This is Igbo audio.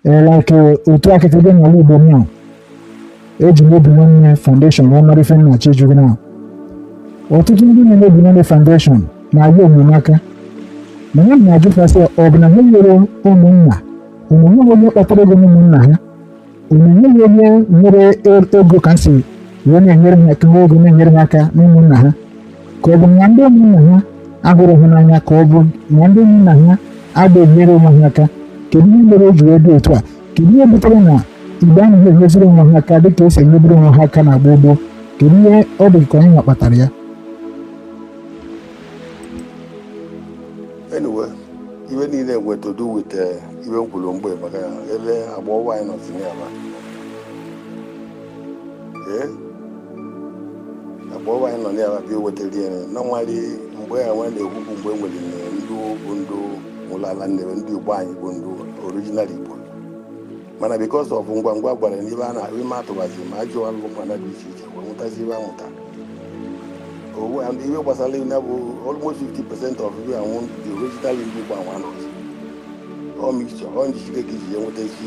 like otu a kịta dị n'ala Igbo m eji m obi nwanne foundation wee mara ife nna Chijioke na ọtụtụ ndị na-eme obi nwanne foundation na-enyere aka mana m na-ajụ sị ọ bụ na ha enwerọ ụmụnna o nweghị onye kpatara ego n'ụmụnna ha o nweghị onye nwere ego ka m si wee na-enyere ha aka n'ụmụnna ha ka ọ bụ na ndị ụmụnna ha ahụrọ ha n'anya ka ọ bụ na ndị ụmụnna ha adịghị enyere onwe ha aka kedu ihe mere o ji wee dị otu a kedu ihe butere na Igbo anaghị enyeziri onwe ha aka dịka e si enyeburu onwe ha aka na gboo gboo kedu ihe ọ dị ka anyị kpatara ya anyway ihe niile nwe to do with eh, ihe m kwuru mbụ maka ebe agba ọwa anyị nọ tinye ya akpa ọwa anyị nọ n'ala bịa wetara ya na nwari mgbe ya nwa na-ekwu bụ mgbe e nwere ndị bụ ndị nwe ala Nnewi ndị igbo anyị bụ ndị original igbo mana because ọ bụ ngwa ngwa gwara n'ibe a na-ahụ ime atụbazi ma ajụọ alụ mana dị iche iche wee nwetazi ibe amụta nwa and ihe gbasara ihe na bụ almost 50 percent of ihe anwụ the original ndị igbo anwụ anọzi ọ mixture ọ njikere ka iji ya nweta isi